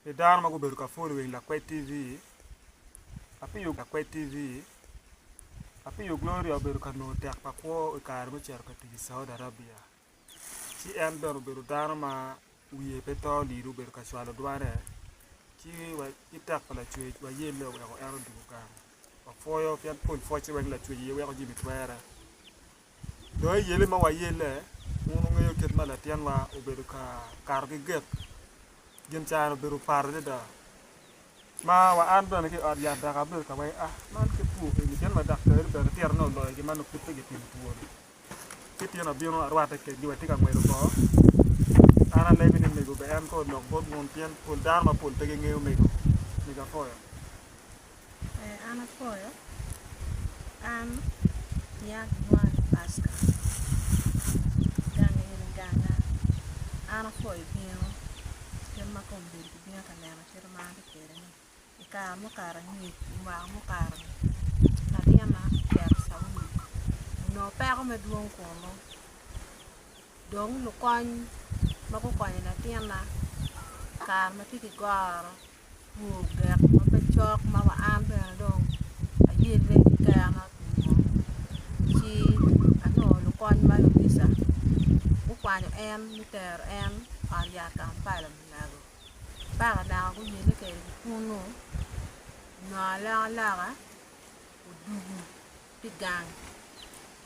Pi dano ma gubedo ka pwolo wang Lakwed TV, apiyo Lakwed TV, apiyo Gloria obedo ka nongo tek pa kwo i kare me cito ka tic i Saudi Arabia. Ci en bene obedo dano ma wiye pe to olilo obedo ka cwalo dwane ci wa ki tek pa Lacwec wayelle oweko en odwogo gang. Wapwoyo pien pol pwocce weng Lacwec aye weko jami twere. Dong eyele ma wayelle, wun wungeyo kit ma latinwa obedo ka kato ki gik. Gin caro obedo pat adada. Ma wa an bene ki i ot yat dok abedo ka waco, Ah, man kit two eni pien wa daktarri bene titine oloyo gin ma nongo pud pe gipimo twoni. Ci tyen abino arwatte kedgi wa tye ka ngwec oko. An alebe ni omego bene en kong olok bot wun pien pol dano mapol pe gingeyo omego, omego apoyo. Ee, an apwoyo. An yat dwai Paska, gang in ganga. An apwoyo bino, kit ma kong obedo kibino ka nena kit ma an atye kwede-ni. I kare mukato angec, i mwaka mukato-ni, labyena ocito i Caudi, onongo peko madwong kunu. Dong lukony ma gukonyo latinna i kare ma tye ki goro gu gek ma pe cok ma wa an bene dong ayelle ki kena pi mo ci anongo lukony ma lubica gukwanyo en me tero en ot yat Kampala me nago mpaka naka guyelle kwede ki kunnu onongo aloko aloka odugu ki gang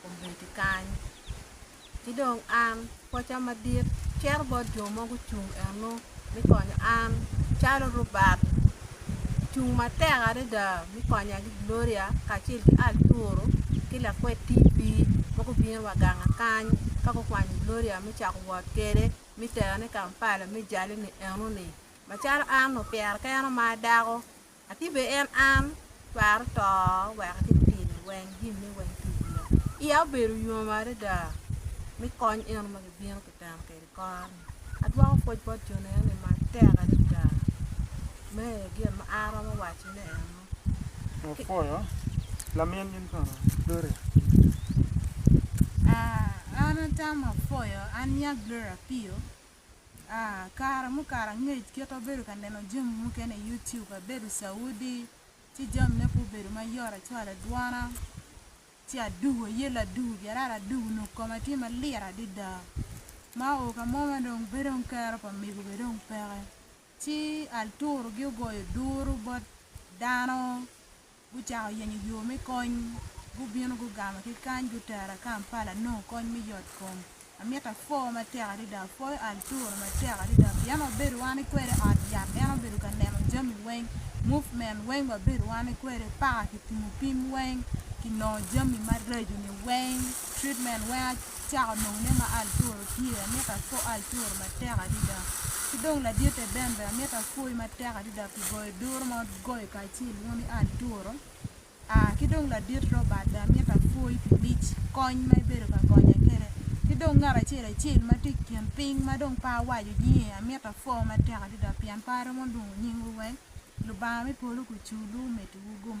obedo kany ki dong an pwoca madit cito bot jo ma gucung eno me konyo an calo Robert ocung matek adada me konya ki Gloria kacel ki Arturo ki lakwed TV ma gubino wa gang kany ka gukwanyo Gloria me cako wot kwede me terone Kampala me jale ni eno ni macalo an opyere keno ma adako Ati be en an, twero to wek ati timo weng gin ni weng ki iya. Iya obedo yom adada mi kony eno ma gibino ki teno kedi kor ni. Adwoko pwoc bot jo neno ni ma tek adada. Me aye gin ma an aromo waco ne eno. Wapwoyo lamin in kono Gloria Apio. Aa an atamo pwoyo an nya Gloria Apio. Kare mukato angec kit abedo ka neno jami mukene i YouTube, abedo Saudi ci jami ne pe obedo mayot acwalo adwona ci adugo aye ladugo byarara adugo onongo koma tye malit adada ma oo ka mo ma dong pe dong kero pa mego bene dong peke ci alturogi ogoyo duru bot dano gucako yenyo yo me kony. Gubino gugamo ki kany gutera Kampala anongo kony me yot kom. Amito apwo matek adada, apwoyo Arturo matek adada pien wabedo wan ki kwede i ot yat en obedo ka neno jami weng, movement weng wabedo wan ki kwede paka kitimo pim weng, kinongo jami maraco ni weng, treatment weng acako nongo ne ma Arturo tye, amito apwo Arturo matek adada. Ki dong laditte Ben bene amito apwoyi matek adada pi goyo duru ma wagoyo kacel. ci ilwongo ni atura aa ki dong ladit Robert dong amito apwoyi pi mic kony ma ibedo ka konya kwede ki dong ngat acel acel ma tye i kin piny ma dong pe awaco nyinge amito apwo matek adada pien pe aromo lwongo nyingwu weng Lubanga me polo kuculu omeddi wu gum.